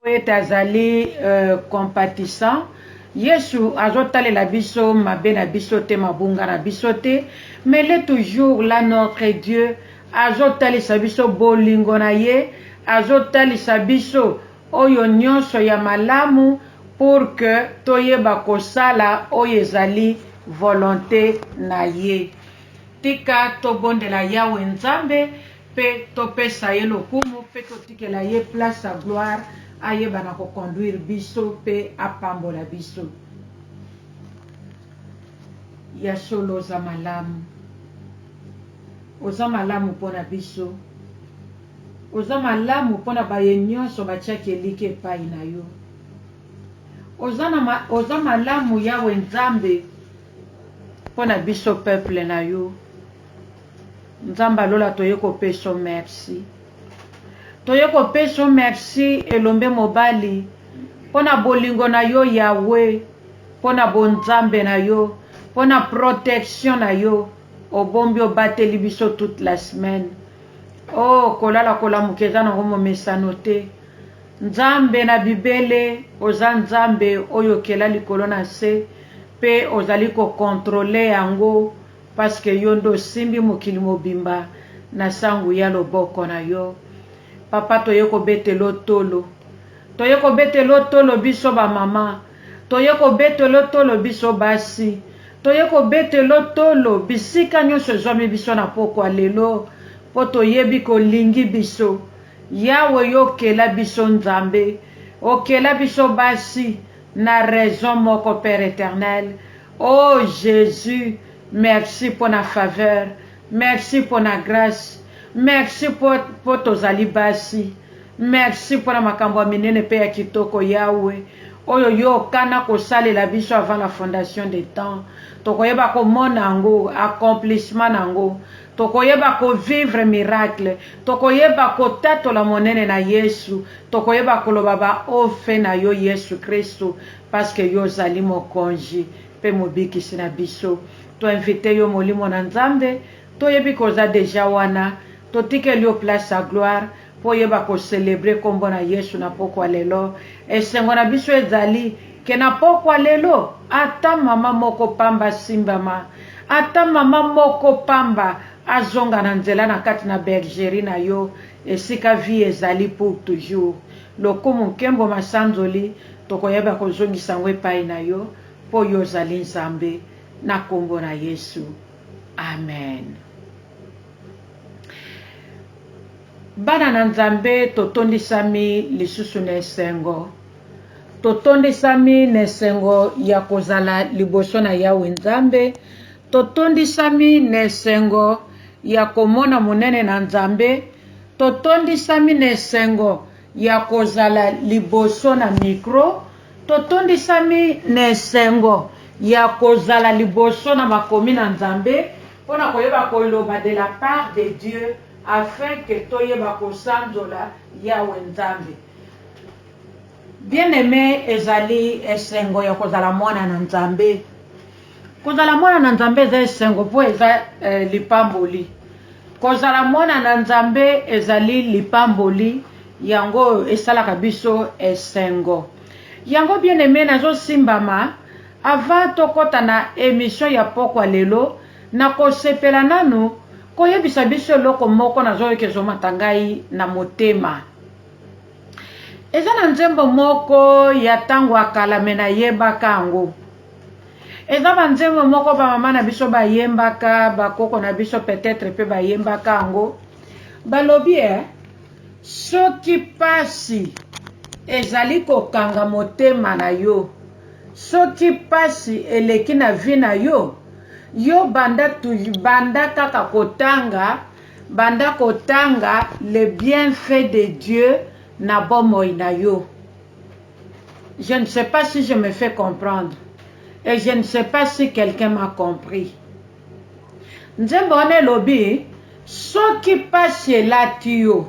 Mpo ete azali compatissant, Yesu azotalela biso mabe na biso te, mabunga na biso te, mais il est toujours là notre Dieu, azotalisa biso bolingo na ye, azotalisa biso oyo nionso ya malamu pour que toyeba kosala oyo ezali volonte na ye. Tika tobondela Yawe Nzambe. pe to pesa ye lokumu pe to tikela ye place ya gloire ayeba na ko conduire biso pe apambola biso. Ya solo oza malamu. Oza malamu pona biso. Oza malamu pona baye nionso ba tiaki eliki epayi na yo. Oza na ma, oza malamu Yahweh Nzambe pona biso peuple na yo. Nzambe ya lola toye kopeso merci toye kopeso merci elombe mobali pona bolingo na yo yahwe pona bonzambe na yo pona protection na yo obombi obateli biso toute la semaine oh kolala kolamuka eza nango momesano te nzambe na bibele oza nzambe oyo okela likolo na se pe ozali kokontrole yango Parce que yo nde osimbi mokili mobimba na sangu y'a loboko na yo. Papa toye kobetelo tolo. Toye kobetelo tolo biso ba mama. Toye kobetelo tolo biso basi. Toye kobetelo tolo bisika nionso ezwami biso na pokwa lelo. Po toyebi ke olingi biso. Yahwe yo okela biso Nzambe. Okela biso basi. na raison moko père eternel oh Jesus merci pona faveur merci pona grace merci po po tozali basi merci pona makambo ya minene pe ya kitoko Yahweh oyo yo okana kosalela biso avant la fondation de temps tokoyeba komona yango accomplissement na yango Tokoyeba ko vivre miracle. Tokoyeba kotatola monene na Yesu. Tokoyeba koloba ba oh fait na yo Yesu Kristu parce que yo ozali Mokonji pe Mobikisi na biso. To inviter yo Molimo na Nzambe. Toyebi que oza dejà wana. Totikeli yo place ya gloire. Mpo oyeba ko celebrer kombo na Yesu na pokwa lelo, esengo na biso ezali que na pokwa lelo, ata mama moko pamba asimbama, ata mama moko pamba azonga na nzela na kati na bergerie na yo, esika vie ezali pour toujours. Lokumu, nkembo, masanzoli, tokoyeba kozongisa yango epayi na yo, mpo yo ozali Nzambe, na kombo na Yesu, Amen. Bana na Nzambe, totondisami lisusu na esengo, totondisami na esengo ya kozala liboso na Yawe Nzambe, totondisami na esengo ya komona monene na Nzambe, totondisami na esengo ya kozala liboso na mikro, totondisami na esengo ya kozala liboso na makomi na Nzambe, Mpo na koyeba koloba de la part de Dieu afin que toyeba kosanzola Yawe Nzambe. Bien aime ezali esengo ya kozala mwana na Nzambe. Kozala mwana na Nzambe eza esengo mpo eza eh, lipamboli. Kozala mwana na Nzambe ezali lipamboli yango esalaka biso esengo. Yango bien aime nazosimbama Avant tokota na emission ya pokwa lelo, nakosepela nanu koyebisa biso eloko moko nazoyoka ezomata ngai na motema. Eza na nzembo moko ya tango ya kala mais nayebaka yango. Eza ba nzembo moko ba mama na biso bayembaka, ba koko na biso peut etre pe bayembaka yango. Balobi eh, soki pasi ezali kokanga motema na yo, Soki pasi eleki na vie na yo, yo banda banda kaka kotanga banda kotanga les bienfaits de Dieu na bomoi na yo. Je ne sais pas si je me fais comprendre et je ne sais pas si quelqu'un m'a compris. Nzembo wana elobi soki pasi elati yo,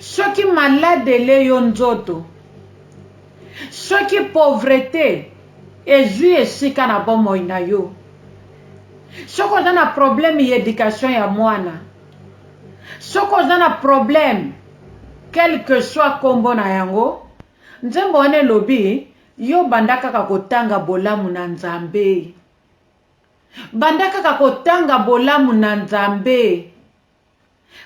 soki malade ele yo nzoto, Soki pauvrete ezui esika na bomoi na yo, soki oza na probleme ya education ya mwana, soki oza na probleme quel que soit kombo na yango, nzembo wana elobi yo banda kaka kotanga bolamu na Nzambe. Banda kaka kotanga bolamu na Nzambe.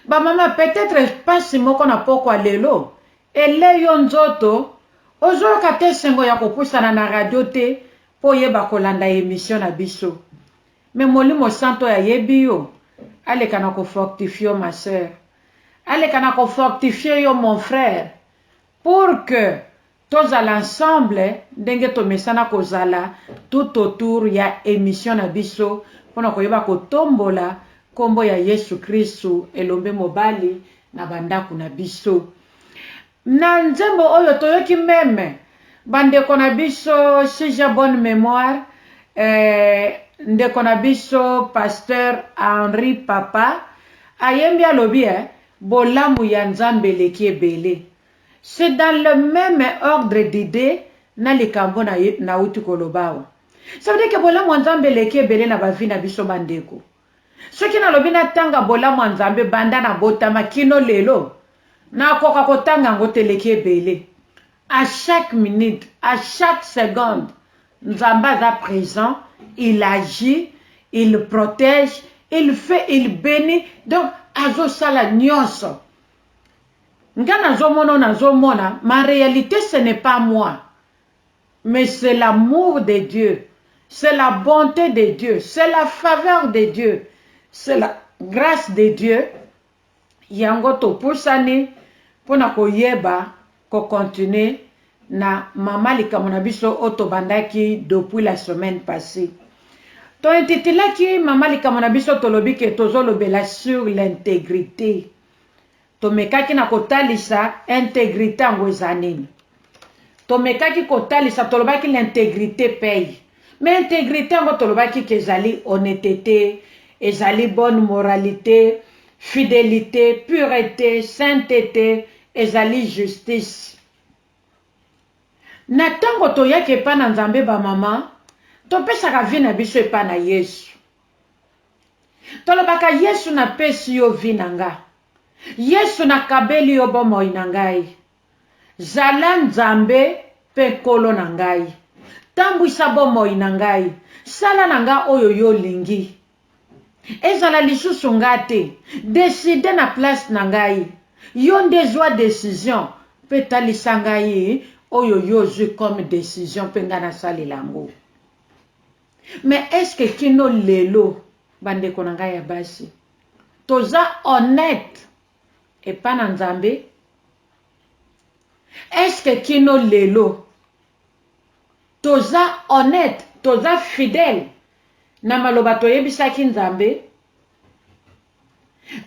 Ba mama peut etre pasi moko na pokwa lelo ele yo nzoto ozo yoka te esengo ya ko pusana na radio te po oyeba ko landa emission na biso mais molimo santu oyo ayebi yo aleka na ko fortifie yo ma soeur aleka na ko fortifie yo mon frère pour que Tozala ensemble ndenge tomesana kozala tout autour ya emission na biso pona koyeba kotombola kombo ya yesu christu elombe mobali na ba ndaku na biso. Na nzembo oyo toyoki meme ba ndeko na biso Shija bonne memoire eh ndeko na biso pasteur Henri papa ayembi alobi eh bolamu ya nzambe eleki ebele C'est dans le meme ordre d'idee na likambo nawuti koloba awa. Ça veut dire que bolamu ya Nzambe eleki ebele na ba vie na biso ba ndeko. Soki nalobi natanga bolamu ya Nzambe banda nabotama kino lelo, nakoka kotanga yango te eleki ebele. A chaque minute, a chaque seconde, Nzambe aza present, il agit, il protège, il fait, il benit, donc azosala nionso Nga nazo mona oyo nazo mona ma realite ce n'est pas moi mais c'est l'amour de Dieu c'est la bonte de Dieu c'est la faveur de Dieu c'est la grace de Dieu yango topusani pona koyeba ko continuer na mama likambo na biso oyo tobandaki depuis la semaine passee to intitulaki mama likambo na biso tolobi ke tozolobela sur l'integrite Tomekaki na kotalisa integrite yango eza nini. Tomekaki kotalisa, tolobaki l'integrite paye. Mais integrite yango tolobaki ke ezali honnetete, ezali bonne moralite, fidelite, purete, saintete, ezali justice. Na tango toyaki epa na Nzambe ba mama, topesaka vie na biso epa na Yesu. Tolobaka, Yesu, napesi yo vie na nga. Yesu, nakabeli yo bomoi na ngai. Zala Nzambe mpe Nkolo na ngai. Tambwisa bomoi na ngai. Sala na nga oyo yo olingi. Ezala lisusu nga te. Decide na place na ngai. Yo nde zwa decision mpe talisa ngai oyo yo ozwi comme decision mpe nga nasalela yango. Mais est ce que kino lelo ba ndeko na ngai ya basi toza honnete epa na nzambe? Est ce que kino lelo toza honnete toza fidèle na maloba toyebisaki nzambe?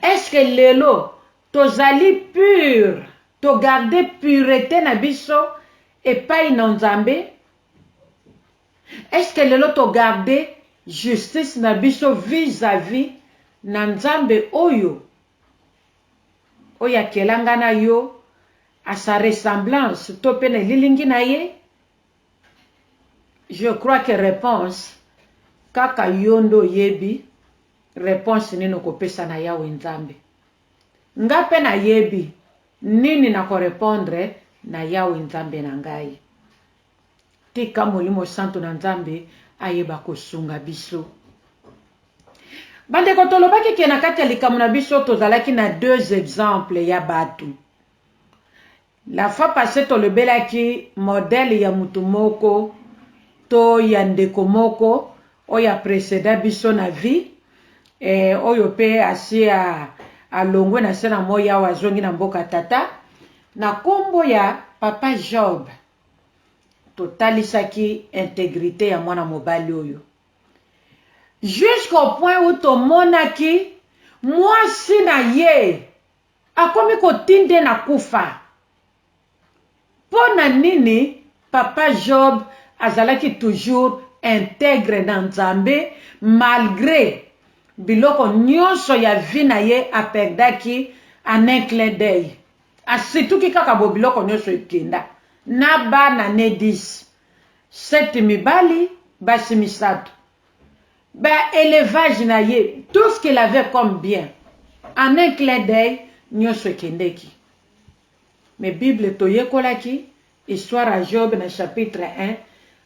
Est ce que lelo tozali pure to garde purete na biso epai na nzambe? Est-ce que lelo to garder justice na biso vis à vis na Nzambe oyo? Oyo akela nga na yo à sa ressemblance to pe na elilingi na ye? Je crois que reponse kaka yo nde oyebi reponse nini oko pesa na Yawe Nzambe. Nga pe na yebi nini nako repondre na Yawe Nzambe na ngai. Tika molimo santu na nzambe ayeba kosunga biso. Bandeko tolobaki ke na kati ya likambo na biso tozalaki na deux exemples ya batu. La fois passee tolobelaki modèle ya mutu moko to ya ndeko moko oyo a preceda biso na vie eh, oyo pe asi a alongwe na se na moyi awa azongi na mboka tata na kombo ya papa Job. Totalisaki integrite ya mwana mobali oyo jusqu'au point où tomonaki mwasi na ye akomi kotinde ye na kufa. Mpo na nini? Papa Job azalaki toujours integre na Nzambe malgre biloko nionso ya vie na ye a perdaki en un clin d'oeil. Asituki kaka boye biloko nioso ekenda na bana ne dix sept mibali basi misatu ba elevage na ye tout ce qu'il avait comme bien en un clin d'oeil nioso ekendeki mais bible toyekolaki histoire ya Job na chapitre un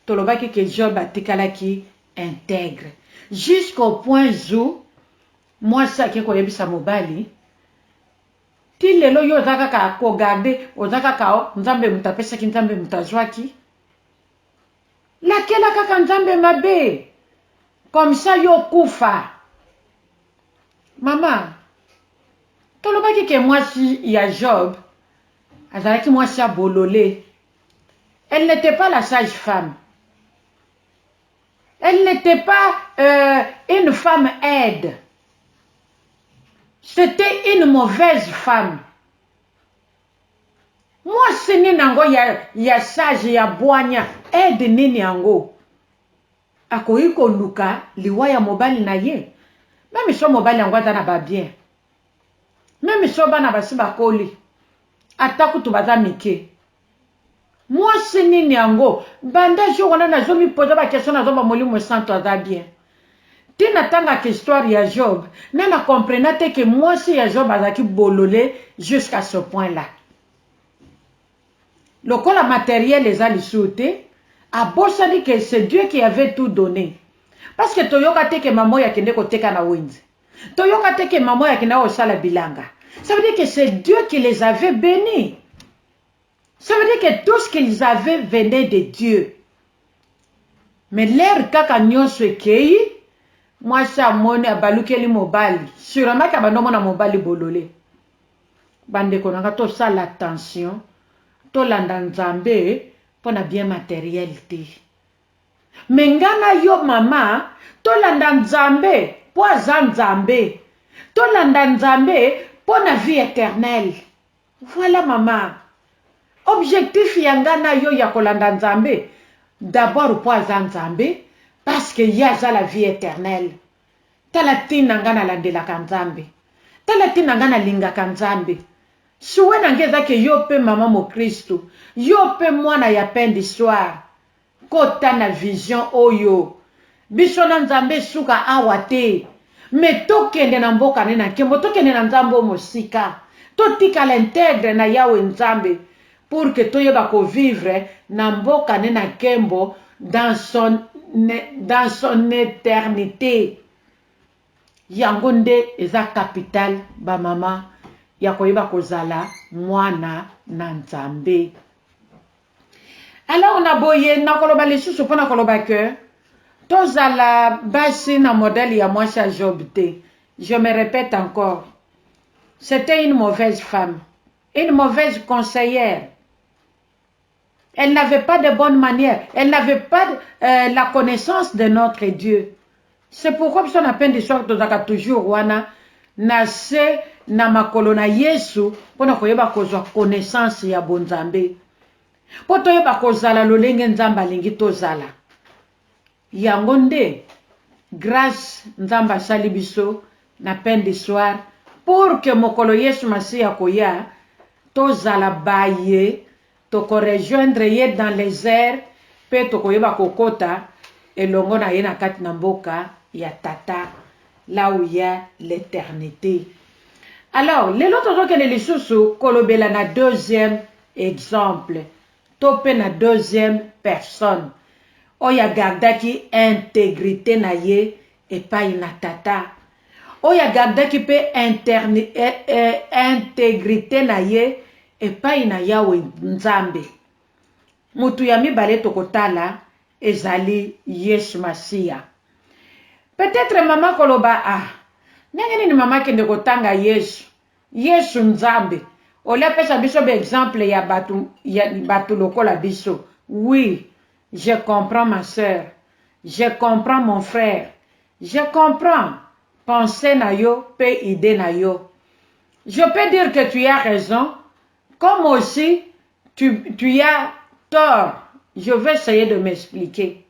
tolobaki que Job atikalaki integre jusqu'au point zou mwasi ake koyebisa mobali Ti lelo yo oza kaka ko garder oza kaka oh nzambe mutu apesaki nzambe mutu azuaki lakela kaka nzambe mabe comme ça yo okufa mama tolobaki ke mwasi ya Job azalaki mwasi ya bolole elle n'était pas la sage femme Elle n'était pas euh, une femme aide. C'était une mauvaise femme. Mwasi nini yango ya, ya sage ya bwanya aide nini yango akoki koluka liwa ya mobali na ye meme so mobali yango aza na babien meme so bana basi bakoli ata kutu baza mike Mwasi nini yango banda jour wana nazo mi poser ba question nazo ba molimo santu aza bien ti na tangaka histoire ya job mais na comprena te ke mwasi ya job azalaki bolole jusqu'à ce point là lokola materiel eza lisuu te abosani ke c'est Dieu qui avait tout donne parce que toyoka te ke maman oyo akende koteka na wenze toyoka te ke maman oyo akenda kosala bilanga ça veut dire que c'est Dieu qui les avait beni Ça veut dire que tout ce qu'ils avaient venait de Dieu. Mais l'air kaka nionso ekeyi, mwasi amoni abalukeli mobali, surement abandi omona mobali bolole. Bandeko na nga tosala attention, tolanda Nzambe mpo na bien materiel te. Mais nga na yo mama, tolanda Nzambe mpo aza Nzambe. Tolanda Nzambe mpo na vie eternelle. Voilà mama objectif ya nga na yo ya kolanda nzambe d'abord po aza nzambe parce que ye aza la vie eternelle tala tina nga na landelaka nzambe tala tina nga na lingaka nzambe souhait na nga eza que yo pe mama mokristu yo pe mwana ya pain du soir Kota na vision oyo. Biso na nzambe suka awa te mais tokende na mboka ne na nkembo tokende na nzambe oyo mosika totikala integre na yahwe nzambe pour que toyeba ko vivre na mboka ne na nkembo dans son dans son eternite yango nde eza capital ba mama ya koyeba kozala mwana na nzambe. Alors na boye nakoloba lisusu mpo na koloba que tozala basi na modèle ya mwasi ya Job te. Je me répète encore. C'était une mauvaise femme, une mauvaise conseillère. Elle n'avait pas de bonnes manières, elle n'avait pas euh, la connaissance de notre Dieu. C'est pourquoi biso na Pain du Soir tozalaka toujours wana na se na makolo na Yesu mpo na koyeba kozwa connaissance ya bonzambe mpo toyeba kozala lolenge Nzambe alingi tozala. Yango nde grace Nzambe asali biso na Pain du Soir pour que mokolo Yesu Masiya akoya tozala baye Toko rejoindre ye dans les airs mpe tokoyeba kokota elongo na ye na kati na mboka ya Tata là où il ya l'eternite. Alors, lelo tozokende lisusu kolobela na deuxième exemple to mpe na deuxième personne oyo a gardaki integrite na ye epayi na Tata, oyo agardaki mpe integrite na ye epayi na Yawe Nzambe. Moto ya mibale tokotala ezali Yesu Masiya. Peut-etre mama akoloba, Ah, ndenge nini mama akende kotanga Yesu? Yesu Nzambe? Au lieu apesa biso ba exemples ya batu lokola biso. Oui, Je comprends ma soeur je comprends mon frère je comprends pense na yo pe idee na yo je peux dire que tu as raison comme aussi tu, tu as tort je vais essayer de m'expliquer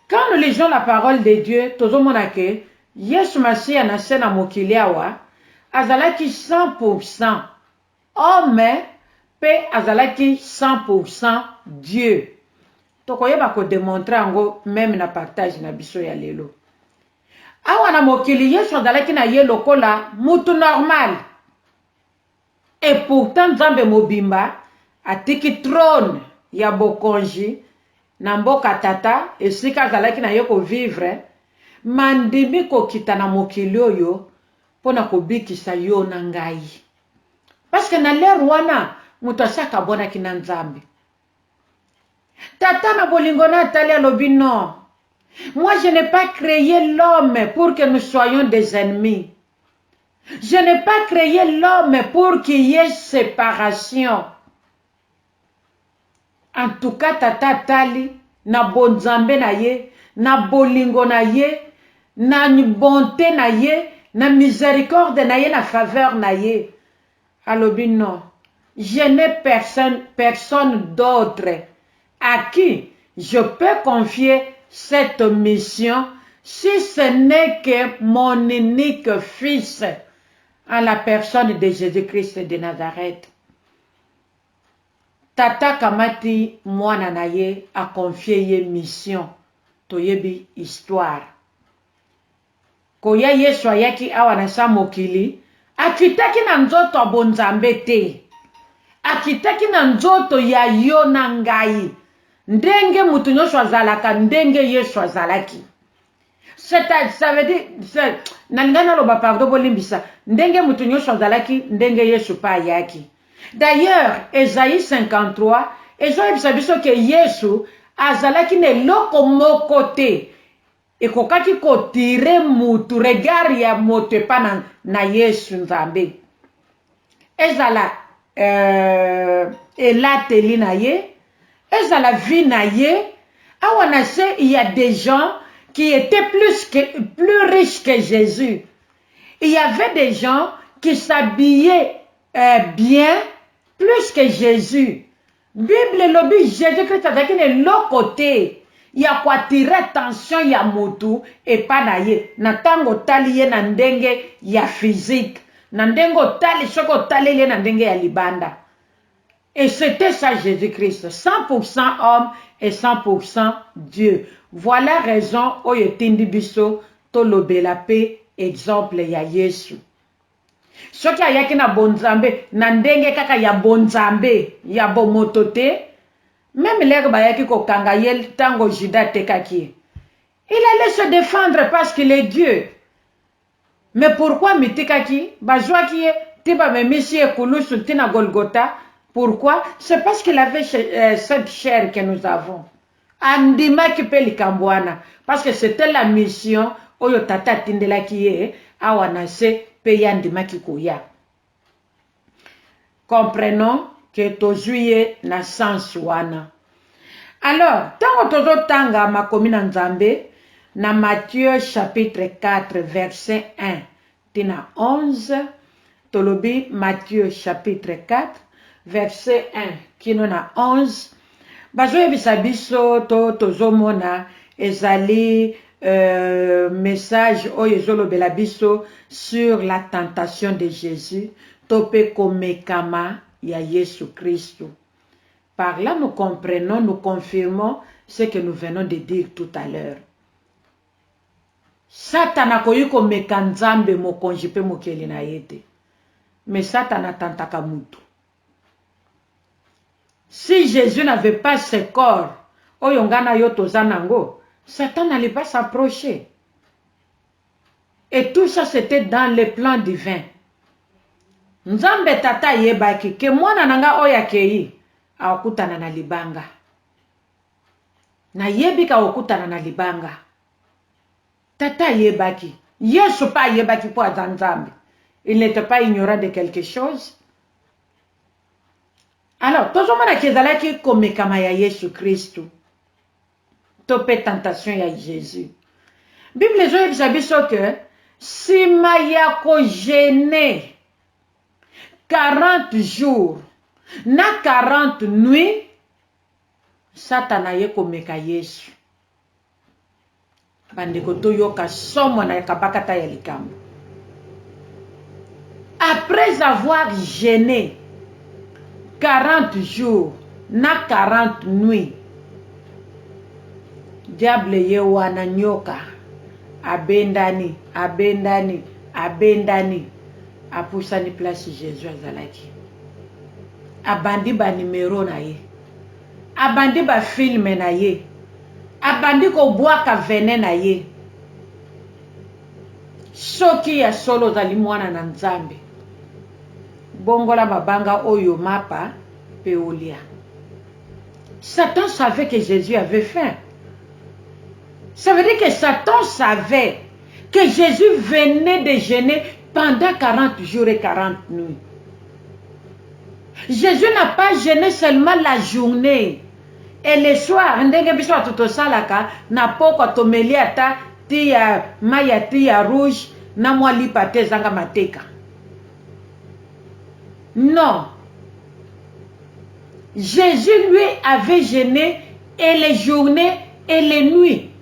quand nous lisons la parole de Dieu tozomona que Yesu Masiya na se na mokili awa azalaki 100% Homme pe azalaki 100 pour 100 Dieu. Tokoyeba ko demontrer yango meme na partage na biso ya lelo. Awa na mokili Yesu azalaki na ye lokola mutu normal et pourtant Nzambe mobimba atiki trone ya bokonji na mboka Tata esika azalaki na ye ko vivre mais andimi kokita na mokili oyo pona kobikisa yo na ngai. Parce que na l'heure wana moto asi akabwanaki na Nzambe. Tata na bolingo na atali alobi non, moi je n'ai pas cree l'homme pour que nous soyons des ennemis. Je n'ai pas cree l'homme pour qu'il y ait separation. En tout cas tata atali na bonzambe na ye, na bolingo na ye, na bonte na ye, na misericorde na ye, na faveur na ye alobi non je n'ai personne personne d'autre à qui je peux confier cette mission si ce n'est que mon unique fils en la personne de Jesus-Christ de Nazareth. Tata akamati mwana na ye a confier ye mission toyebi histoire koya yesu ayaki awa na sa mokili akitaki na nzoto ya bonzambe te akitaki na nzoto ya yo na ngai ndenge mutu nionso azalaka ndenge yesu azalaki ça veut dire nalinga naloba pardon bolimbisa ndenge moto nyonso azalaki ndenge yesu mpe ayaki d'ailleurs esaïe 53 ezoyebisa biso ke yesu azalaki na eloko moko te ekokaki kotire motu regard ya moto epa na, na yesu nzambe ezala euh, elateli na ye ezala vie na ye awa na se il y a des gens qui étaient plus, que, plus riches que Jésus il y avait des gens qui s'habillaient euh, bien plus que Jésus Bible elobi Jesus Christ azalaki na eloko te ya ko attire attention ya mutu epa na ye na tango otali ye na ndenge ya physique, na ndenge otali soki otaleli ye na ndenge ya libanda. Et c'etait ça Jesus Christ, 100 pour 100 homme et 100 pour 100 Dieu. Voilà raison oyo etindi biso tolobela pe exemple ya Yesu. Soki ayaki na bonzambe, na ndenge kaka ya bonzambe, ya bomoto te. Meme lheure bayaki kokanga ye tango Judas atekaki ye, il allait se defendre parce qu'il est Dieu. Mais pourquoi amitikaki? Bazuaki ye ti bamemisi ye ekulusu ti na Golgotha. Pourquoi? C'est parce qu'il avait cette chair que nous avons. Andimaki mpe likambo wana, parce que c'etait la mission oyo Tata atindelaki ye awa na se, mpe ye andimaki koya. Comprenons que tozui ye na sens wana. Alors, tango tozotanga Makomi na Nzambe, na Matthieu chapitre 4 verset 1, ti na 11, tolobi Matthieu chapitre 4 verset 1 kino na 11, bazoyebisa biso to tozomona ezali message oyo ezolobela biso sur la tentation de Jesus to pe komekama ya Yesu Kristu. Par là nous comprenons, nous confirmons ce que nous venons de dire tout à l'heure. Satana akoki komeka Nzambe, Mokonji mpe Mokeli na ye te. Mais Satana atantaka mutu. Si Jesus n'avait pas ce corps oyo nga na yo toza nango, Satan n'allait pas s'approcher. Et tout ça c'etait dans le plan divin. Nzambe Tata ayebaki que mwana na nga oyo akeyi akutana na libanga. Na yebi ka okutana na libanga. Tata ayebaki. Yesu pe ayebaki po aza Nzambe. Il n'etait pas ignorant de quelque chose. Alors, tozo mona ke ezalaki komekama ya Yesu Kristu to pe tentation ya Jesus. Bible ezo yebisa biso ke sima ya ko jeune 40 jours na 40 nuits, Satana aye komeka Yesu. Bandeko toyoka somo na kabakata ya likambo. Après avoir jeune 40 jours na 40 nuits, diable ye wana nyoka abendani, abendani, abendani, apusani place Jesus azalaki. abandi ba numero na ye abandi ba film na ye abandi ko bwaka venin na ye soki ya solo ozali mwana na nzambe bongola mabanga oyo mapa pe olia satan savait que jesus avait faim ça veut dire que satan savait Que Jesus venait de geuner pendant 40 jours et 40 nuits. Jesus n'a pas geune seulement la journee et le soir ndenge biso bato tosalaka na pokwa tomeli ata ti ya mai ya ti ya rouge na mwa lipa ata ezanga mateka. Non. Jesus lui avait geune et les journees et les nuits.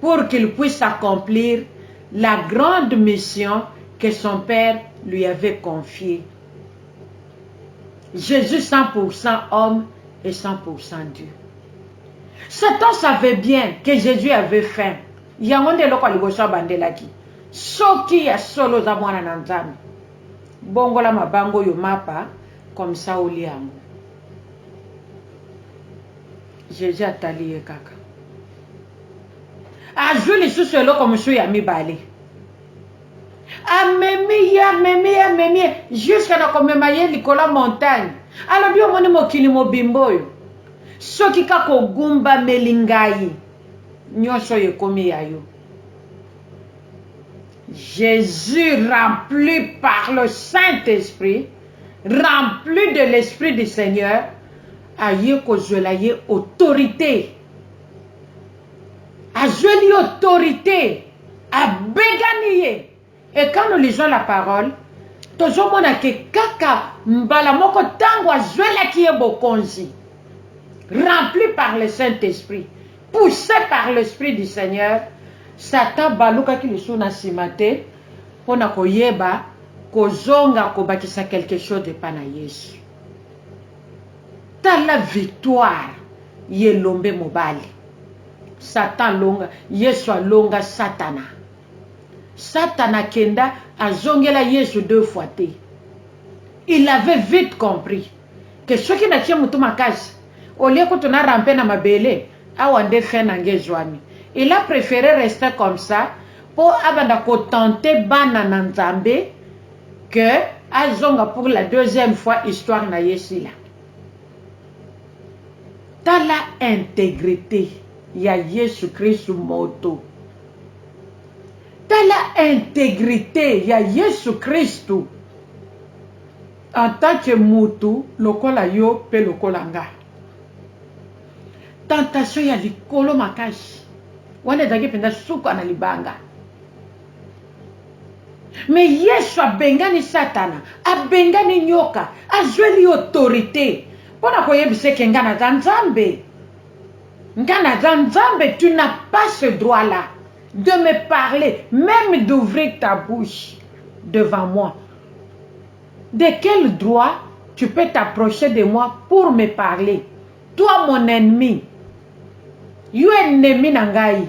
pour qu'il puisse accomplir la grande mission que son père lui avait confier. Jesus 100 pour 100 homme et 100 pour 100 Dieu. Satan savait bien que Jesus avait faim. Yango nde eloko ya liboso abandelaki. Soki ya solo oza mwana na Nzambe, bongola mabanga oyo mapa comme ça olia yango. Jezi atali ye kaka. Azwi lisusu eloko mosusu ya mibale. Amemi ye, amemi ye, amemi ye, jusqu'à na komema ye likolo ya montagne. Alobi omoni mokili mobimba oyo, soki kaka ogumbameli ngai, nyonso oyo ekomi ya yo. Jésus rempli par le Saint-Esprit, rempli de l'Esprit du Seigneur, Aye kozuela ye autorite. Azueli ye autorite. Abegani ye. Et quand nous lisons la parole, tozo mona ke kaka mbala moko tango azuelaki ye bokonzi, rempli par le Saint Esprit, pousse par l'Esprit du Seigneur, Satan abalukaki lisusu na sima te pona koyeba kozonga kobakisa quelque chose epa na Yesu. Tala victoire ya elombe mobali. Satan alonga, Yesu alonga satana. Satana akenda, azongela Yesu deux fois te. Il avait vite compris que soki natie mutu makasi, au lieu kutu na ramper na mabele, awa nde fin na nga ezuami. Il a prefere rester comme ça mpo abanda ko tenter bana na Nzambe. que azonga pour la deuxième fois histoire na ye esila tala integrite ya yesu kristu moto tala integrite ya yesu kristu en tant que mutu lokola yo pe lokola nga tentation ya likolo makasi wana ezalaki mpenza suka na libanga Me Yesu abengani satana, abengani nyoka, azweli ye autorite mpo na koyebisa ye ke nga naza Nzambe. Nga naza Nzambe, tu n'as pas ce droit là de me parler, meme d'ouvrir ta bouche devant moi. De quel droit tu peux t'approcher de moi pour me parler? Toi mon ennemi, yo ennemi na ngai.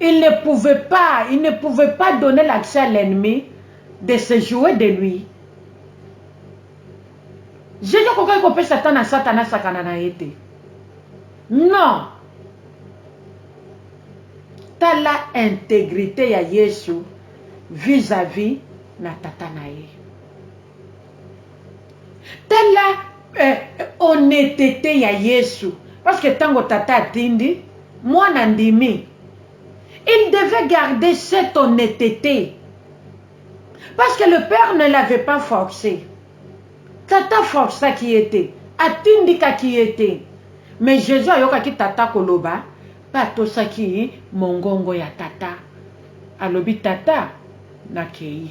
il ne pouvait pas il ne pouvait pas donner l'accès à l'ennemi de se jouer de lui jesus akokaki kopesa temps na satana asakana na ye te non tala integrite ya yesu vis-à-vis na tata na ye tala eh, honnetete ya yesu parce que ntango tata atindi mwana andimi il devait garder cette honnetete parce que le père ne l'avait pas forcé tata forçaki ye te atindikaki ye te mais jésus ayokaki tata koloba mpe atosaki mongongo ya tata alobi tata nakei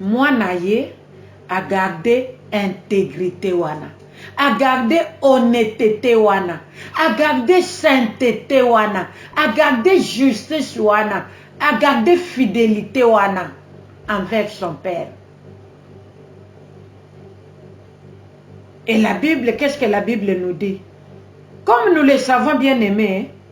Muana ye a garde integrite wana, a garde honnetete wana, a garde saintete wana, a garde justice wana, a garde fidelite wana envers son père. Et la bible qu'est ce que la bible nous dit? Comme nous le savons bien aime,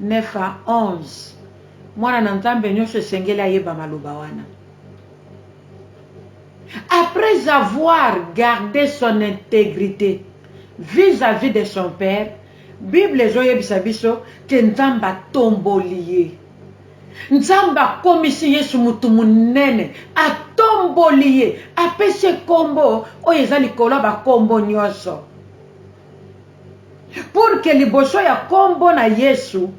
9 à 11 mwana na nzambe nioso esengeli ayeba maloba wana après avoir garde son integrite vis à vis de son père bible ezoyebisa biso ke nzambe atomboli ye nzambe akomisi yesu motu monene atomboli ye apesi ye kombo oyo eza likolo ya bakombo nioso pour que liboso ya kombo na Yesu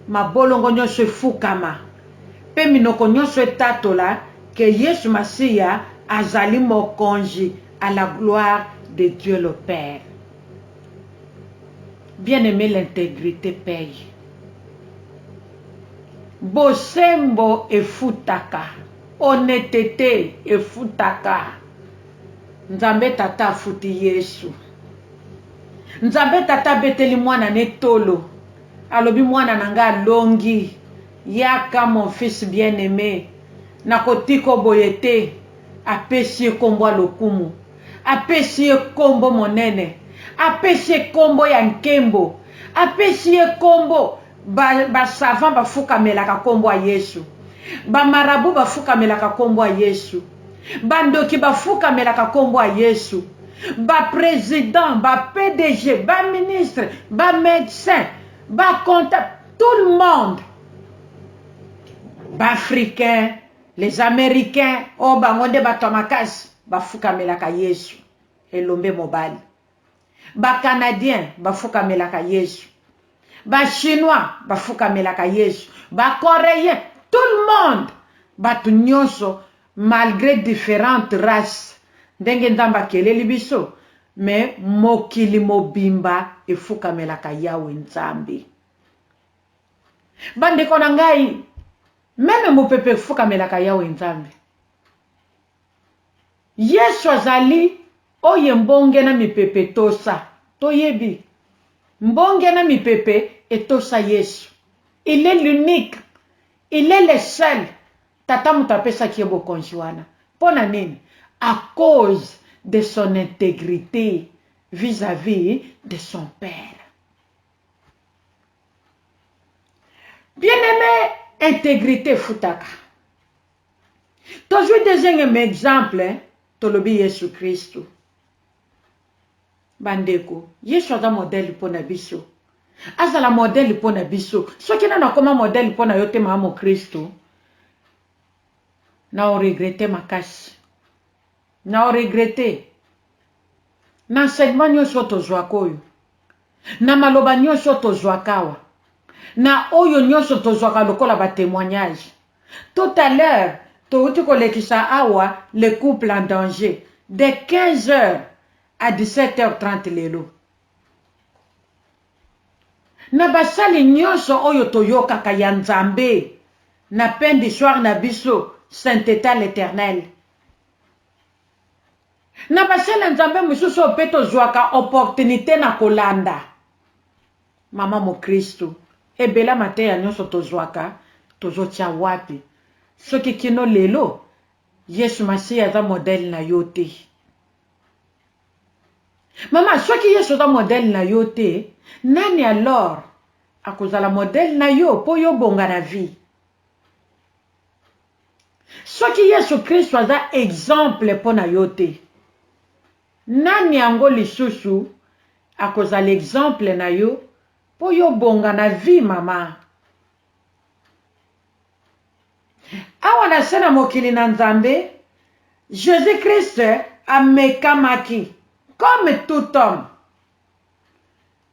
mabolongo nionso efukama pe minoko nionso etatola que Yesu Masiya azali Mokonji à la gloire de Dieu le Père. Bien aime l'integrite paye. Bosembo efutaka. Honnetete efutaka. Nzambe Tata afuti Yesu. Nzambe tata abeteli mwana ne tolo alobi mwana na nga alongi yaka mon fils bien aime nakotika yo boye te apesi ye kombo ya lokumu apesi ye kombo monene apesi ye kombo ya nkembo apesi ye kombo ba ba savant bafukamelaka kombo ya yesu ba marabout bafukamelaka kombo ya yesu ba ndoki ba fukamelaka kombo ya yesu ba president ba pdg ba ministre ba medecin ba comptable tout le monde ba africain les americains oyo oh, bango nde bato ya makasi bafukamelaka yesu elombe mobali ba canadiens bafukamelaka yesu ba chinois bafukamelaka yesu ba coreien tout le monde batu nionso malgre differentes races ndenge nzambe akeleli biso mais mokili mobimba efukamelaka yawe nzambe bandeko na ngai meme mopepe efukamelaka yawe nzambe Yesu azali oye mbonge na mipepe etosa. Toyebi. Mbonge na mipepe etosa Yesu. Il est l'unique. Il est le seul. Tata moto apesaki ye bokonzi wana. Mpo na nini? A cause de son integrite vis à vis de son Père. Bien aime, integrite efutaka. Tozwi dezenge me example, tolobi Yesu Kristu. Ba ndeko, Yesu aza modèle po na biso. Azala modèle po na biso. Soki nanu akoma modèle po na yo te mama mokristu, na o regretter makasi. Nao regretter na enseignement nionso oyo tozuaka oyo, na maloba nionso oyo tozuaka awa, na oyo nionso tozuaka lokola ba temoignages. Tout à l'heure, towuti kolekisa awa le couple en danger de 15 heures à 17 heures 30 lelo. Na basali nionso oyo toyokaka ya Nzambe na pain du soir na biso, Saintetat l'Eternel, Na ba chaine ya Nzambe mosusu oyo pe tozuaka opportunite na kolanda maman mokristu ebela mateya nionso tozuaka tozotia wapi soki kino lelo yesu masiya aza modèle na yo te? Maman soki yesu aza modèle na yo te nani alors akozala modèle na yo po yo obonga na vie? Soki Yesu Kristo aza exemple mpo na yo te, nani yango lisusu akozala exemple na yo mpo yo obonga na vie maman? Awa na se na mokili na Nzambe, Jesus Christ amekamaki comme tout homme.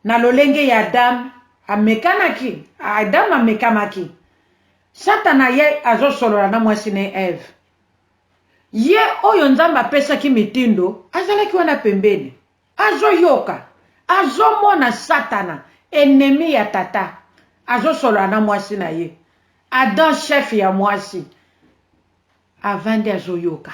Na lolenge ya Adam, amekanaki, Adam amekamaki. Satana ye azo solola na mwasi ne Eve. Ye oyo Nzambe apesaki mitindo azalaki wana pembeni. Azo yoka, azo mona Satana, ennemi ya tata, azo solola na mwasi na ye. Adam chef ya mwasi, avandi azo yoka.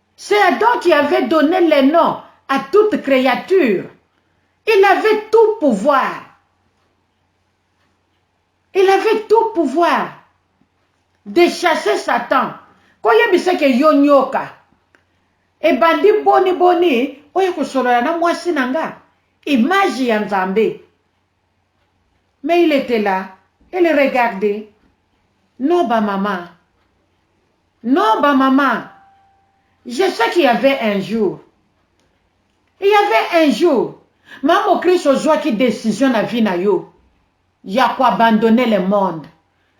C'est Adam qui avait donne les noms à toute creature. Il avait tout pouvoir. Il avait tout pouvoir de chasser Satan. Koyebisa ke yo nyoka. Ebandi boni boni oye kosolola na mwasi na nga. Image ya Nzambe. Mais il etait là, elle regardait, non ba mama, non ba mama, je sais qu'il y'avait un jour, il y'avait un jour Mamo Chris ozuaki decision na vie na yo ya ko abandonner le monde,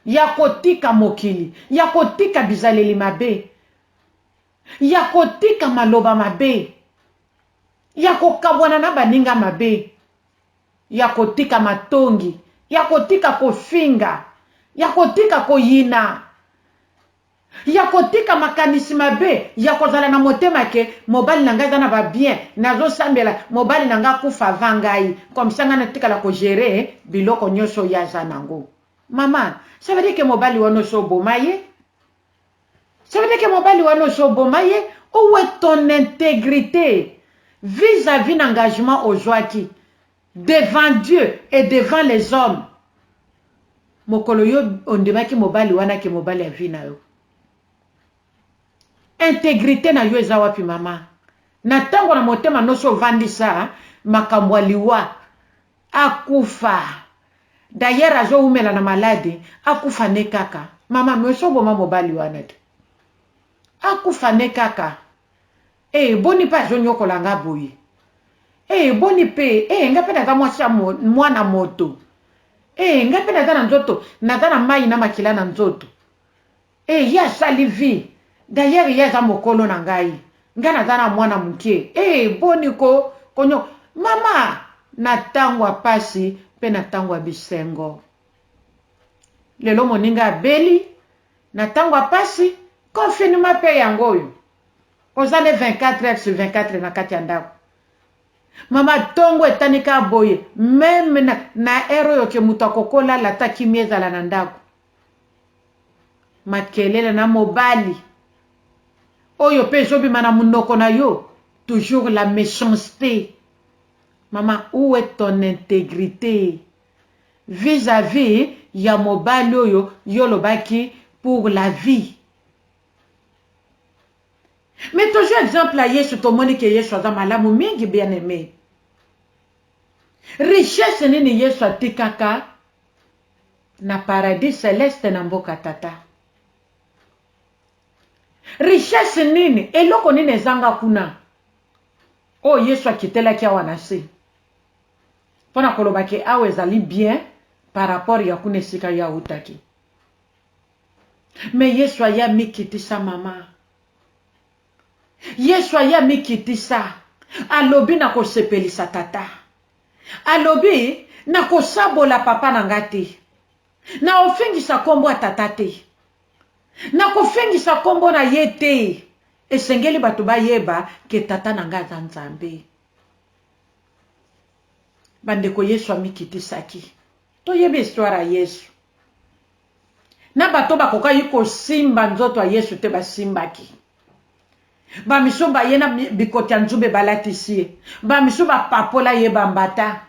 ya kotika mokili, ya kotika bizaleli mabe, ya kotika maloba mabe, ya kokabwana na baninga mabe, ya kotika matongi, ya kotika kofinga, ya kotika koyina, ya kotika makanisi mabe, ya kozala na motema que mobali na ngai aza na ba biens, nazo sambela mobali na ngai akufa avant ngai, comme ça ngai natikala ko gerer biloko nionso ye aza nango. Maman, ça veut dire que mobali wana osi oboma ye? Soki ndeke mobali wana osi oboma ye, ou est ton integrite vis à vis na engagement ozuaki devant Dieu et devant les hommes mokolo yo ondimaki mobali wana ke mobali ya vie na yo? Integrite na yo eza wapi maman? Na tango na motema nosi ovandisa makambo ya liwa Akufa d'ailleurs azo wumela na malade akufa ne kaka maman mais oso boma mobali wana te akufa ne kaka ee boni pe azo niokola nga boye ee boni pe ee nga pe naza mwasi ya mwana moto ee nga pe naza na nzoto naza na mayi na makila na nzoto Eh ye asali vie d'ailleurs ye aza mokolo na ngai ngai naza na mwana mukie eh boni ko konyo mama na tango ya pasi pe na tango ya bisengo lelo moninga abeli na tango ya pasi confinement pe yango oyo oza nde 24 heures sur 24 na kati ya ndako mama tongo etani ka boye meme na, na heure oyo ke mutu akokola lata kimia ezala na ndako Makelele na mobali oyo pe ezo bima na munoko na yo toujours la mechancete maman ou est ton integrite vis à vis ya mobali oyo yo olobaki pour la vie mais tozui exemple ya yesu tomoni ke yesu aza malamu mingi bien aime richesse nini yesu atikaka na paradis celeste na mboka tata richesse nini eloko nini ezanga kuna oyo yesu akitelaki awa na se mpo na koloba ke awa ezali bien par rapport ya kuna esika ye autaki me yesu aye amikitisa mama yesu aye amikitisa alobi na kosepelisa tata Alobi, Nakosabola papa na ngai te. Naofengisa nkombo ya tata te. Nakofengisa nkombo na ye te. Esengeli bato bayeba ke tata na ngai aza Nzambe. Bandeko, Yesu amikitisaki. Toyebi histoire ya Yesu. na bato oyo bakokaki kosimba nzoto ya Yesu te basimbaki. Bamisusu baye na bikoti ya nzube balatisi ye, bamisusu bapapola ye bambata.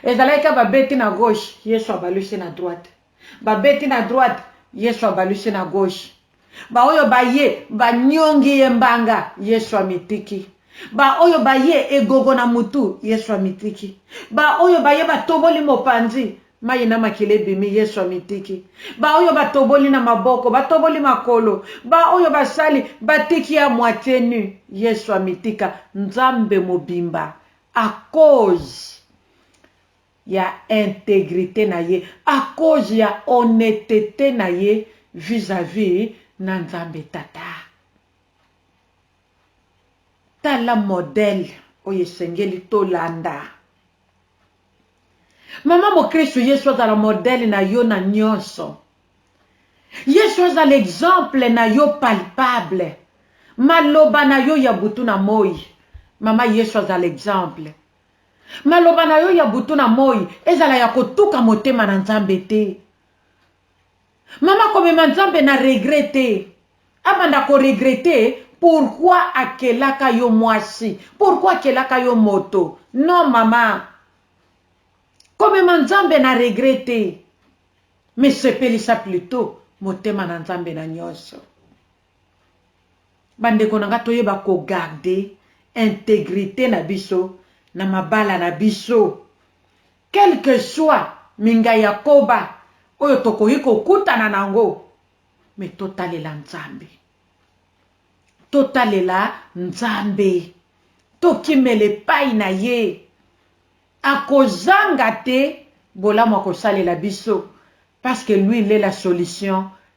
Ezalaki kaka babeti na gauche, Yesu abalusi na droite, babeti na droite, Yesu abalusi na gauche. Baoyo baye banyongi ye mbanga, Yesu amitiki. Baoyo baye egogo na mutu, Yesu amitiki. Baoyo baye batoboli mopanzi, mayi na makila ebimi, Yesu amitiki. Baoyo batoboli na maboko, batoboli makolo, baoyo basali, batiki ye à moitie nu, Yesu amitika. Nzambe mobimba, à cause. ya integrite na ye, a cause ya honnetete na ye vis à vis na Nzambe Tata. Tala modèle oyo esengeli tolanda. Mama mokristu, Yesu azala modèle na yo na nionso. Yesu azala exemple na yo palpable. Maloba na yo ya butu na moyi, mama Yesu azala exemple. Maloba na yo ya butu na moi ezala ya kotuka motema na Nzambe te. Mama komema Nzambe na regret te. Abanda ko regretter pourquoi akelaka yo mwasi, pourquoi akelaka yo moto. Non mama. Komema Nzambe na regret te. Mais sepelisa plutot motema na Nzambe na nionso. Ba ndeko na nga toyeba ko garder integrite na biso na mabala na biso. Quel que soit minga ya koba oyo tokoki ko kutana na yango mais to talela Nzambe. To talela Nzambe. To kimela epayi na ye. Ako zanga te bolamu ako salela biso parce que lui il est la solution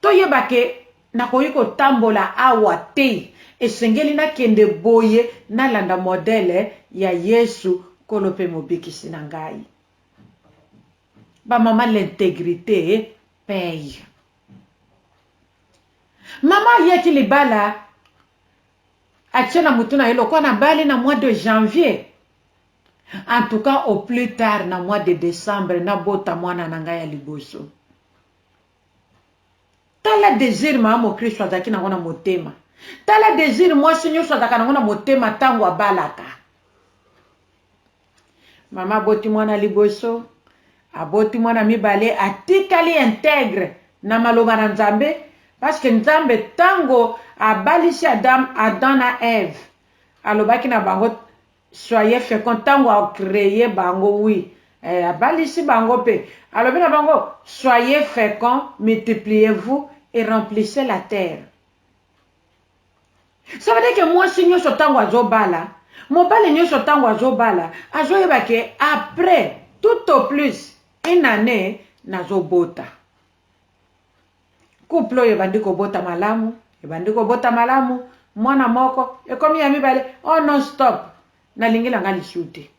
Toyeba ke, nakoki kotambola awa te, esengeli nakende boye, nalanda modele ya Yesu, Nkolo pe Mobikisi na ngai. Ba mama, l'integrite paie. Mama ayaki libala, atie na mutu na ye lokola nabali na mois de janvier, en tout cas au plus tard na mois de decembre nabota mwana na ngai ya liboso. Tala desir mama mokristu azalaki nango na motema. Tala desir mwasi nyoso azalaka nango na motema tango abalaka. Mama aboti mwana liboso, aboti mwana mibale, atikali integre na maloba na Nzambe, parce que Nzambe tango abalisi Adam, Adam na Eve, alobaki na bango Soyez fecond tango a creer bango oui eh abalisi bango pe alobi na bango soyez fecond multipliez vous et remplissez la terre ça veut dire que mwasi nioso tango azo bala mobali nioso tango azo bala azo yeba ke après tout au plus une annee nazo bota couple oyo ebandi kobota malamu ebandi kobota malamu mwana moko ekomi ya mibale o oh non stop nalingi na nga lisu te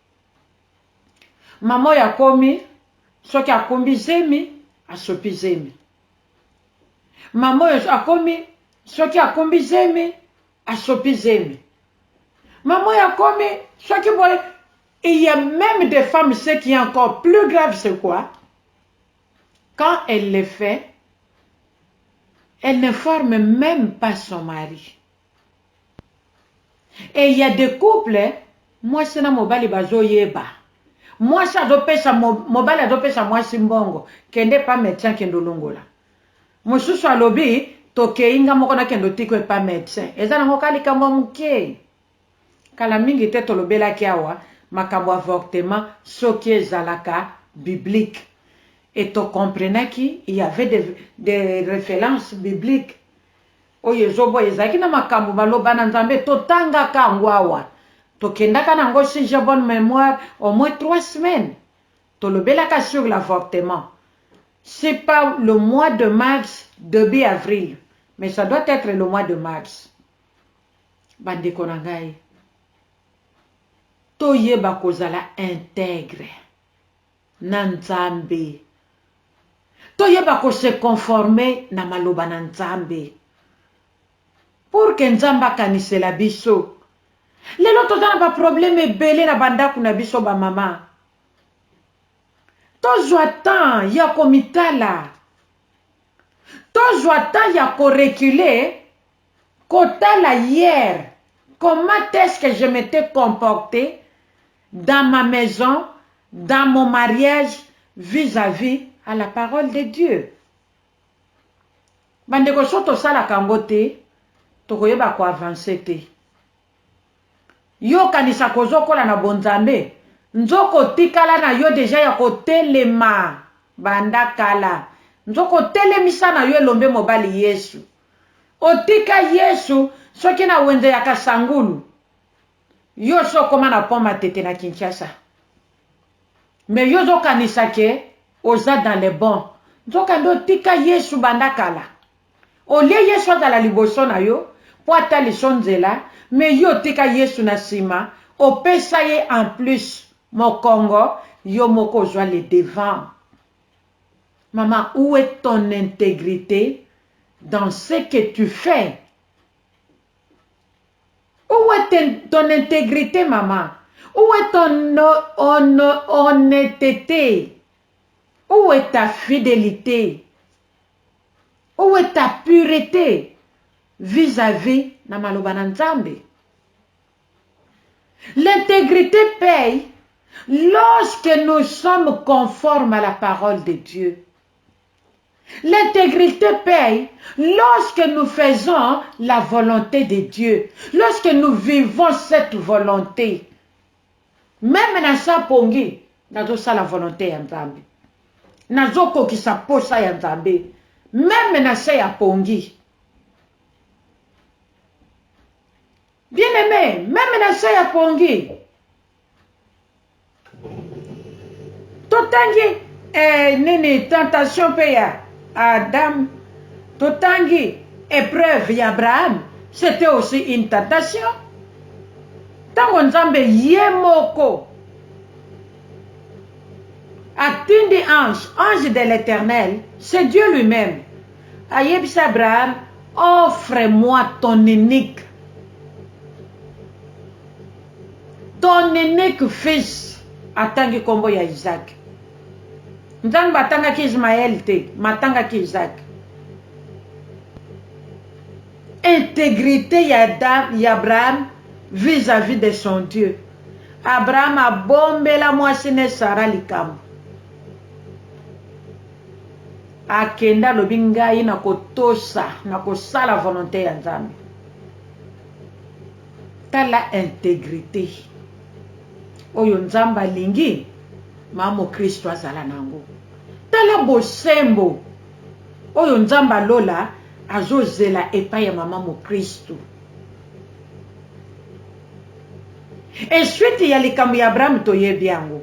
mama oyo akomi soki akumbi zemi asopi zemi mama oyo akomi soki akumbi zemi asopi zemi mama oyo akomi soki boye il y a même des femmes ce qui est encore plus grave c'est quoi Quand elle le fait, elle n'informe meme pas son mari. Et il ya des couples mwasi na mobali bazo yeba, mwasi azo pesa mobali azo pesa mwasi mbongo kende epa medecin kende olongola, mosusu alobi tokeyi nga moko nakende otika yo epa medecin, eza nango ka likambo ya mukie? Kala mingi te tolobelaki awa makambo avortement soki ezalaka biblique et to comprenaki il y avait des des references bibliques oyo ezo boya ezalaki na makambo maloba na nzambe totangaka yango awa tokendaka na yango si j'ai bonne memoire au moins trois semaines tolobelaka sur l'avortement si pas le mois de mars debut avril mais ça doit etre le mois de mars Bandeko na ngai, toyeba kozala integre na Nzambe. Toyeba ko se conformer na maloba na Nzambe. Pour que Nzambe akanisela biso. Lelo toza na ba problèmes ebele na ba ndaku na biso ba mama. Tozwa temps ya komitala. Tozwa temps ya ko reculer. Kotala hier comment est-ce que je m'etais comporte dans ma maison, dans mon mariage vis à vis à la parole de Dieu. Ba ndeko soki tosalaka yango te, tokoyeba ko avancer te. Yo okanisaka ozokola na bonzambe, nzoka otikala na yo deja ya kotelema banda kala. Nzoka otelemisa na yo elombe mobali Yesus. Otika yesu soki na wenze ya kasangulu yo osi okoma na pont matete na kinshasa mais yo ozo kanisa ke oza dans le bon nzoka nde otika yesu banda kala au lieu yesu azala liboso na yo po ataliso nzela mais yo otika yesu na sima opesa ye en plus mokongo yo moko ozua le devant Maman où est ton integrite dans ce que tu fais? Où est ton integrite maman? Où est ton honnetete? Où est ta fidelite? Où est ta purete vis-à-vis na maloba na Nzambe? L'integrite paye lorsque nous sommes conformes à la parole de Dieu. L'integrite paye lorsque nous faisons la volonté de Dieu, lorsque nous vivons cette volonté. Meme na sa pongi, nazosala volonté ya Nzambe. Nazokokisa posa ya Nzambe. Meme na se ya pongi. Bien aimé, meme na se ya pongi totangi eh, nini tentation mpe ya Adam, totangi epreuve ya Abraham, c'était aussi une tentation. Ntango Nzambe ye moko atindi ange, ange de l'Éternel, c'est Dieu lui-même Ayebisa Abraham, Offre moi ton unique, ton unique fils, atangi kombo ya Isaac. Nzambe atangaki Ismaël te, mais atangaki Isaac. Intégrité ya Abraham vis-à-vis -vis de son Dieu. Abraham abombela mwasi ne Sara likambo. akende alobi ngai na kotosa na kosala volonte ya nzambe tala integrite oyo nzambe alingi ma mokristo azala na yango tala bosembo oyo nzambe alola azozela epai ya mama mokristo esuite ya likambo ya abrahame toyebi yango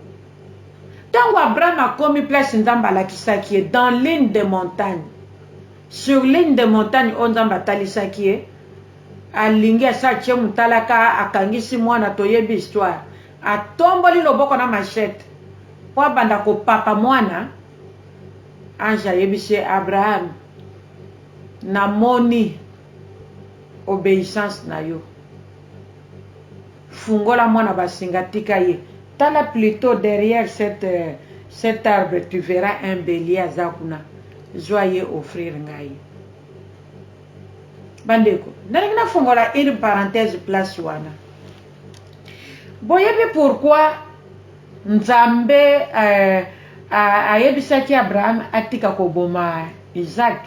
Tango Abraham akomi place Nzambe alakisaki ye, dans l'une des montagnes, sur l'une des montagnes oyo Nzambe atalisaki ye, alingi asi atie mutalaka, akangisi mwana, toyebi histoire, atomboli loboko na machette po abanda kopapa mwana, ange ayebisi ye, Abraham, namoni obeissance na yo. Fungola mwana basinga tika ye tala plutot derrière cette cette arbre tu verra un belie aza kuna zua ye offrir ngai bandeko nalingi na fungola une parenthèse place wana boyebi pourquoi nzambe euh, ayebisaki abraham atika koboma isaac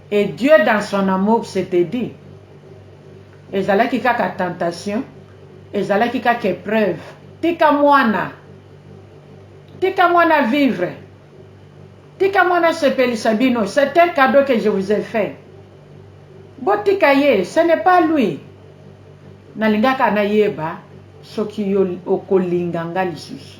Et Dieu dans son amour s'etait dit, ezalaki kaka tentation, ezalaki kaka epreuve, tika muana, tika muana vivre, tika muana asepelisa bino, c'est un cadeau que je vous ai fait, botika ye, ce n'est pas lui, nalingaka nayeba soki yo okolinga nga lisusu.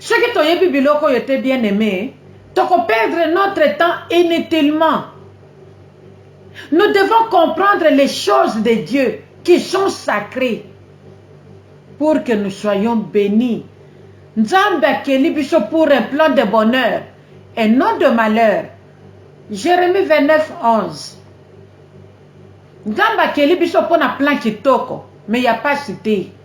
Soki toyebi biloko oyo te bien aime, toko perdre notre temps inutilement. Nous devons comprendre les choses de Dieu qui sont sacrees pour que nous soyons benis. Nzambe akeli biso pour un plan de bonheur et non de malheur. Jeremie 29, 11 Nzambe akeli biso mpo na plan kitoko, mais ya pasi te.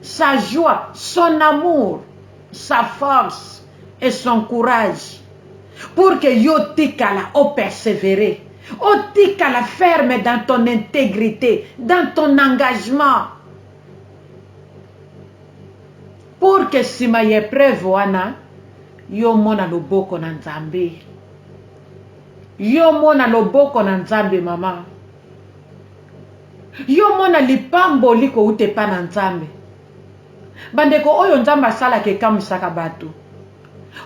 sa joie, son amour, sa force et son courage pour que yo otikala o perseverer, otikala ferme dans ton integrite, dans ton engagement pour que sima ya epreuve wana yo omona loboko na Nzambe. Yo omona loboko na Nzambe maman. Yo mona lipamboli kowuta epa na Nzambe. Bandeko oyo Nzambe asalaka ekamusaka batu.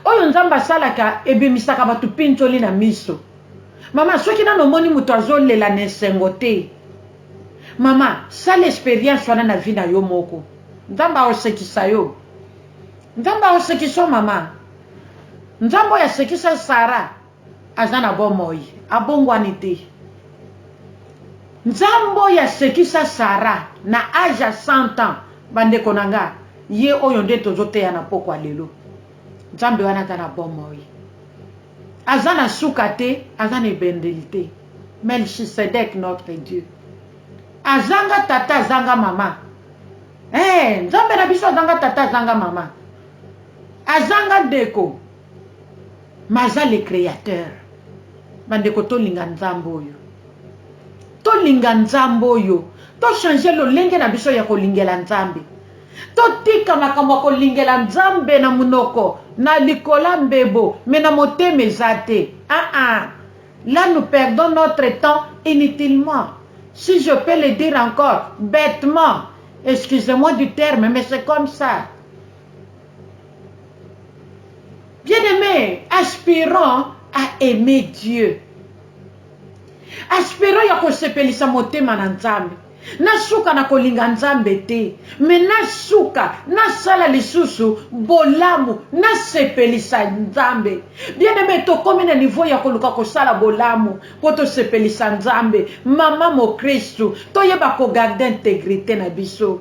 Oyo Nzambe asalaka ebimisaka batu pinzoli na miso. Mama soki nanu omoni mutu azo lela na esengo te. Mama sala experience wana na vie na yo moko. Nzambe ako sekisa yo. Nzambe ako sekisa yo mama. Nzambe oyo asekisa Sarah. Aza na bomoi abongwani te. Nzambe oyo asekisa Sarah na age ya 100 ans ba ndeko na nga ye oyo nde tozo teya na pokwa lelo. Nzambe wana aza na bomoi. Aza na suka te, aza na ebendeli te. Melchisedek notre Dieu. Azanga tata azanga mama. Eeh Nzambe na biso azanga tata azanga mama. Azanga ndeko, mais aza le createur ba ndeko tolinga nzambe oyo tolinga nzambe oyo to changer lolenge na biso ya kolingela nzambe totika makambo ya kolingela nzambe na monoko na likola mbebo mais na motema eza te ah ah là nous perdons notre temps inutilement si je peux le dire encore bêtement excusez-moi du terme mais c'est comme ça Bien aimé, aspirant à aimer Dieu. Aspirant ya kosepelisa motema na Nzambe. Nasuka na kolinga Nzambe te, mais nasuka nasala lisusu bolamu, nasepelisa Nzambe. Bien aimé, tokomi na niveau ya koluka kosala bolamu po tosepelisa Nzambe. Mama mokristu, toyeba ko garder integrite na biso.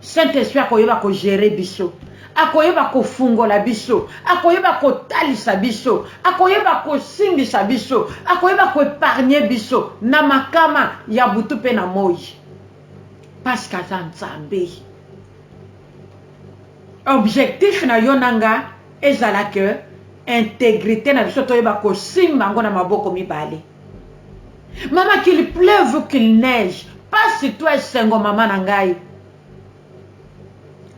Saint Esprit akoyeba ko gerer biso, akoyeba kofungola biso, akoyeba kotalisa biso, akoyeba kosimbisa biso, akoyeba ko epargner biso na makama ya butu mpe na moyi parce que aza Nzambe. Objectif na yo na nga ezala que integrite na biso toyeba kosimba yango na maboko mibale. Maman qu'il pleuve ou qu'il neige pasi to esengo maman na ngai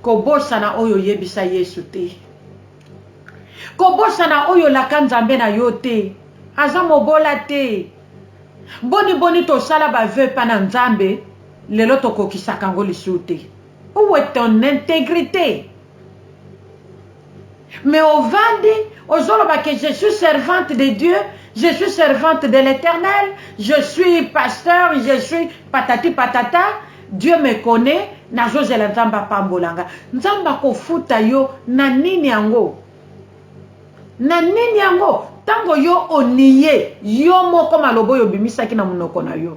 kobosana oyo oyebisa Yesu te kobosana oyo olaka Nzambe na yo te aza mobola te boni boni tosala ba vœux pa na Nzambe lelo tokokisaka yango lisusu te où est ton intégrité mais ovandi ozoloba que je suis servante de dieu je suis servante de l'éternel je suis pasteur je suis patati patata dieu me connaît nazozela nzambe apambola nga nzambe akofuta yo na nini yango na nini yango ntango yo oniye yo moko maloba oyo obimisaki na monoko na yo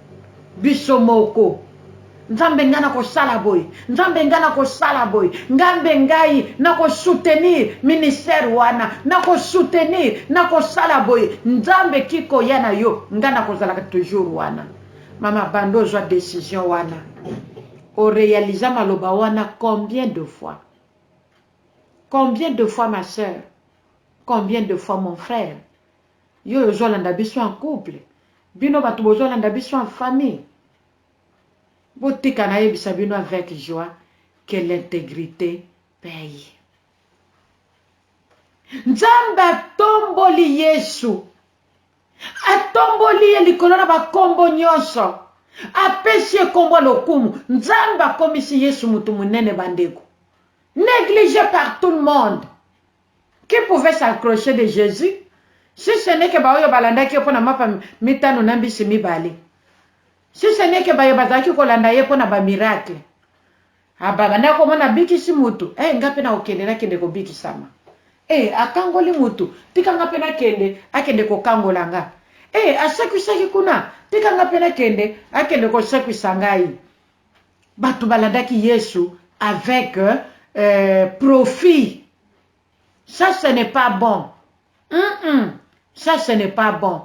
biso moko. Nzambe ngai nakosala boye, Nzambe ngai nakosala boye, Ngambe ngai nako soutenir ministère wana, nako soutenir, nakosala boye, Nzambe ki koya na yo, ngai nakozalaka toujours wana. Mama banda ozwa decision wana, o realisa maloba wana combien de fois? Combien de fois ma sœur? Combien de fois mon frère? Yo ozo landa biso en couple bino batu bozo landa biso en famille botika na yebisa bino avec joie que l'integrite paye Nzambe atomboli Yesu atomboli ye likolo na bakombo nyonso apesi ye kombo lokumu Nzambe akomisi Yesu mutu munene bandeko négligé par tout le monde Qui pouvait s'accrocher de Jesus si ce n'est que baoyo balandaki ye mpo na mapa mitano na mbisi mibale? Si ce n'est que baye bazalaki kolanda ye mpo na ba miracles? Ah, babandaki komona abikisi mutu, eh nga mpe nakokende nakende kobikisama. Eh, akangoli mutu, tika nga mpe nakende, akende kokangola nga. Eh, asekwisaki kuna, tika nga mpe nakende, akende kosekwisa ngai. Batu balandaki yesu avec profit ça ce n'est pas bon hum ça ce n'est pas bon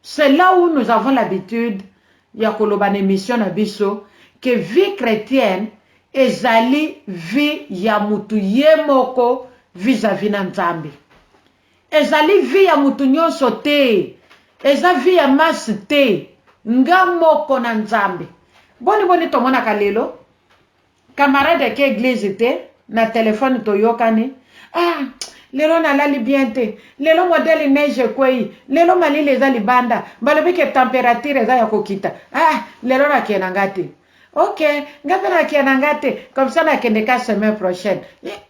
c'est là où nous avons l'habitude ya koloba na emission na biso que vie chretienne ezali vie ya mutu ye moko vis-à-vis na nzambe Ezali vie ya mutu nionso te eza vie ya masse te nga moko na nzambe boni boni tomonaka lelo camarade ake eglise te na telephone toyokani ah lelo na lali bien te lelo modèle neige ekweyi lelo malili eza libanda balobi ke temperature eza ya kokita ah lelo na ke na nga te ok nga pe na ke na nga te comme ça na kende ka semaine prochaine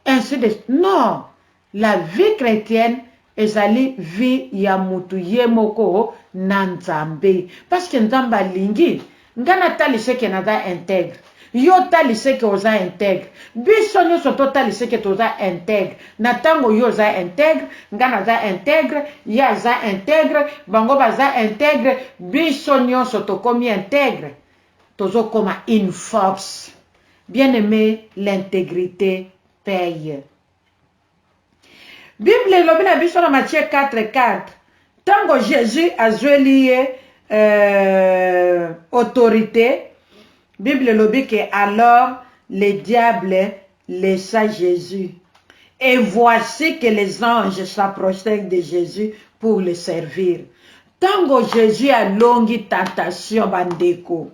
ainsi de non La vie chretienne ezali vie ya mutu ye moko na Nzambe. Parce que Nzambe alingi nga na talise ke naza integre, yo otalise ke oza integre, biso nionso to talise ke toza integre na tango yo oza integre, nga naza integre, ye aza integre, bango baza integre, biso nionso tokomi integre, tozo koma une force. Bien aime, l'integrite paye. Bible elobi na biso na Matthieu 4, 4, tango Jesus azweli ye euh, autorite, Bible elobi que alors le diable laissa Jesus. Et voici que les anges s'approchèrent de Jésus pour le servir. Tango Jésus alongi tentation bandeko.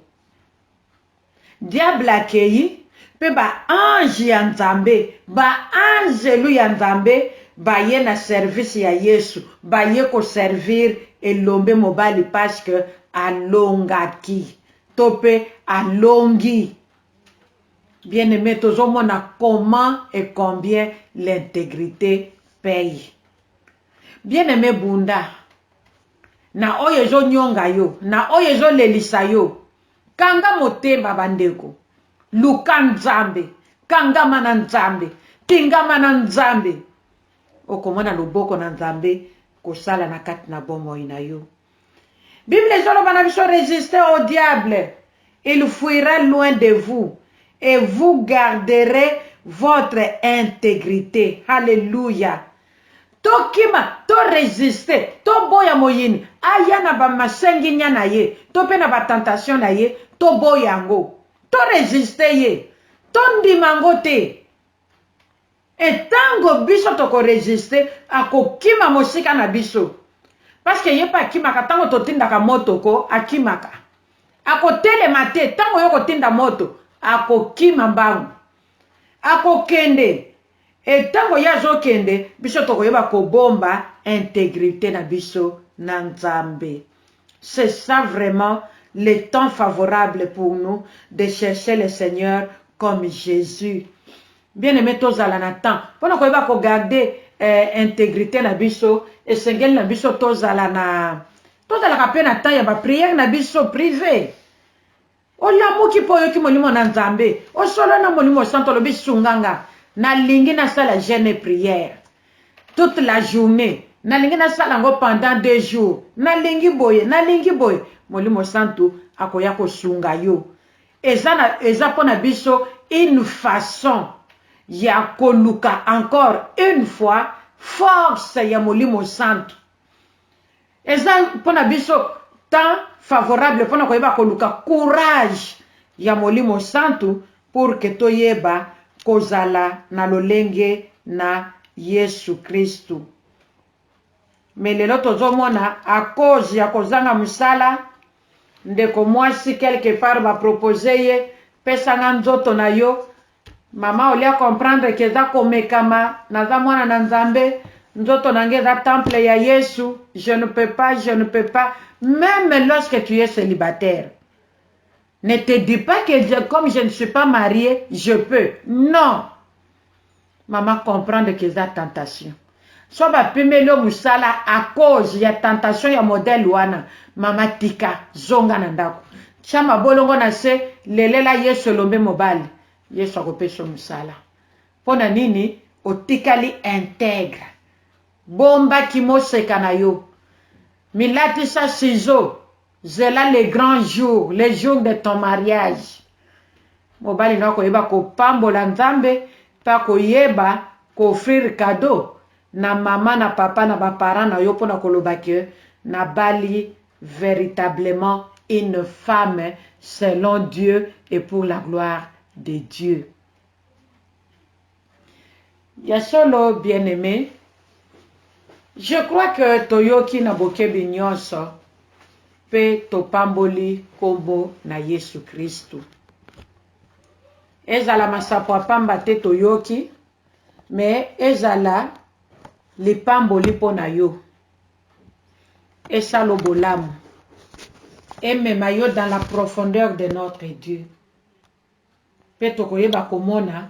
Diable akeyi, pe ba anges ya Nzambe, ba anzelu ya Nzambe, baye na service ya Yesu, baye ko servir elombe mobali parce que alongaki to pe alongi. Bien-aime, tozo mona comment et combien l'integrite paie. Bien-aime bunda na oyo ezo nionga yo, na oyo ezo lelisa yo, Kanga motema ba ndeko. Luka Nzambe. Kangama na Nzambe. Tingama na Nzambe. Okomona loboko na Nzambe kosala na kati na bomoi na yo. Bible ezoloba na biso resiste au diable. Il fuira loin de vous et vous garderez votre integrite. Hallelujah. Tokima, to resister, toboya moyini aya na ba masenginia na ye to mpe na ba tentations na ye, toboya yango, to resister ye, tondima yango te. Et tango biso toko resister, akokima mosika na biso. Parce que ye mpe akimaka tango totindaka moto ko, akimaka. Akotelema te tango yo okotinda moto, akokima mbangu. Akokende. Et tango ye azo kende biso toko yeba ko bomba integrite na biso na Nzambe. C'est ça vraiment le temps favorable pour nous de chercher le Seigneur comme Jesus. Bien aime tozala na temps pona ko yeba ko garde integrite na biso esengeli na biso tozala na tozalaka pe na temps ya ba prière na biso prive Olamuki mpe oyoki Molimo na Nzambe, osolola na Molimo Santu, olobi, Sunga nga, nalingi nasala jeune et prière toute la journee, nalingi nasala yango pendant deux jours, nalingi boye, nalingi boye, Molimo Santu akoya kosunga yo. Eza na, eza mpo na biso une façon ya koluka encore une fois force ya Molimo Santu. eza pona biso temps favorable pona koyeba koluka courage ya molimo santu pour que toyeba kozala na lolenge na yesu kristu mais lelo tozomona a cause ya kozanga musala ndeko mwasi quelque part ba propose ye pesa nga nzoto na yo Maman au lieu a comprendre que eza komekama, naza mwana na Nzambe, nzoto na nga eza temple ya Yesu, je ne peux pas, je ne peux pas, meme lorsque tu es celibataire, ne te dis pas que je, comme je ne suis pas mariee, je peux, non! Maman comprendre que eza tentation. Soit ba pimeli yo musala à cause ya tentation ya modèle wana maman tika zonga na ndaku tia mabolongo na se lelela yesu elombe mobali yesu ako pesa yo musala pona nini otikali integre bomba ki moseka na yo milatisa ciseaux Zela le grand jour, le jour de ton mariage. Mobali na yo akoyeba kopambola Nzambe pe akoyeba ko offrir cadeau na mama na papa na ba parents na yo pona koloba que nabali veritablement une femme selon Dieu et pour la gloire de Dieu. Ya solo bien aime je crois que toyoki na bokebi nionso pe topamboli kombo na yesu christu ezala masapo ya pamba te toyoki me ezala lipamboli mpo na yo esalo bolamu emema yo dans la profondeur de notre dieu pe tokoyeba komona